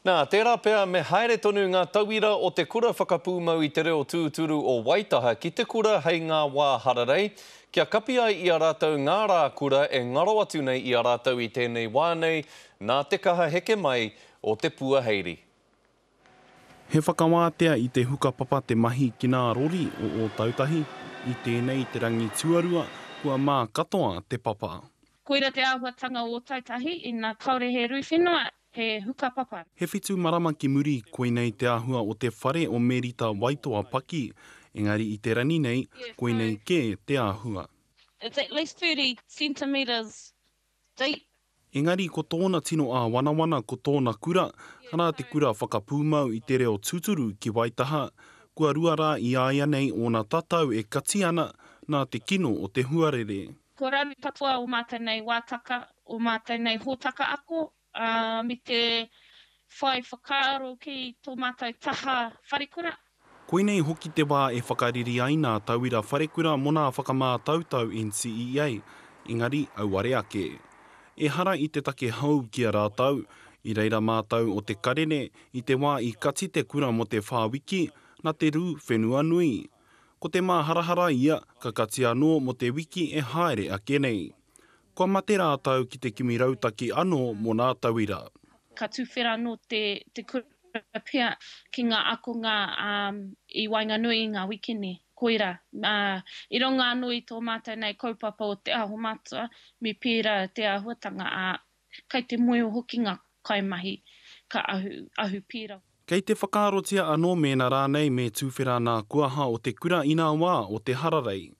Nā, tērā pea me haere tonu ngā tauira o te Kura Whakapūmau i te Reo Tūturu o Waitaha ki te kura hei ngā wā hararei, kia kapi ai i a rātou ngā rā kura e ngaro atu nei i a rātou i tēnei wā nei, nā te kaha heke mai o te puaheiri. He whakawātea i te hukapapa te mahi ki nā rori o Ōtautahi, i tēnei te rangi tuarua kua mā katoa te papa. Koira te āhuatanga o Ōtautahi, ina kāore he rūwhenua, He hukapapa. He whitu marama ki muri, koinei te āhua o te whare o Merita Waitoa Paki, engari i te rangi nei, koinei kē te āhua. It's at least thirty centimetres deep. Engari ko tōna tino āwanawana ko tōna kura, arā te kura whakapūmau i te reo tūturu ki Waitaha, kua rua rā i āianei ōna tatau e kati ana, nā te kino o te huarere. Ko Rangi katoa o mātou nei wātaka, o mātou nei hōtaka ako, ā, me te whai whakaaro ki tō mātou taha wharekura. Koinei hoki te wā e whakariri ai nā tauira wharekura mō nā whakamātautau NCEA, engari auare ake. Ehara i te take hou ki a rātou, i reira mātou o Te Karere i te wā i kati te kura mō te whā wiki, nā te rū whenua nui. Ko te māharahara ia, ka kati anō mō te wiki e haere ake nei. Kua mate rātou ki te kimi rautaki anō mō nā tauira. Ka tuwhera anō te kura pea ki ngā akonga i waenganui i ngā wikene. Koirā, i runga anō i tō mātou nei kaupapa o te aho matua, me pērā te āhuatanga, ā, Kei te moe hoki ngā kaimahi ka ahu, ahu pīrau. Kei te whakaarotia anō mēnā rānei me tūwhera nā kuaha o te kura inā wā o te hararei.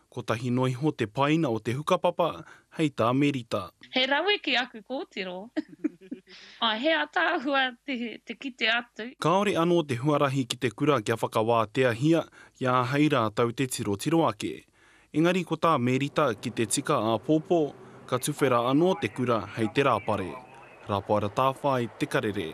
Kotahi noa iho te paina o te hukapapa hei tā Merita. He rawe ki aku kōtiro. Āe, he ataahua te, te kite atu. Kāore anō te huarahi ki te kura kia whakawāteahia, kia āhei rātou te tirotiro ake. Engari ko tā Mērita ki te tika āpōpō, ka tuwhera anō te kura hei te rāpare. Rapaera Tāwhai, Te Karere.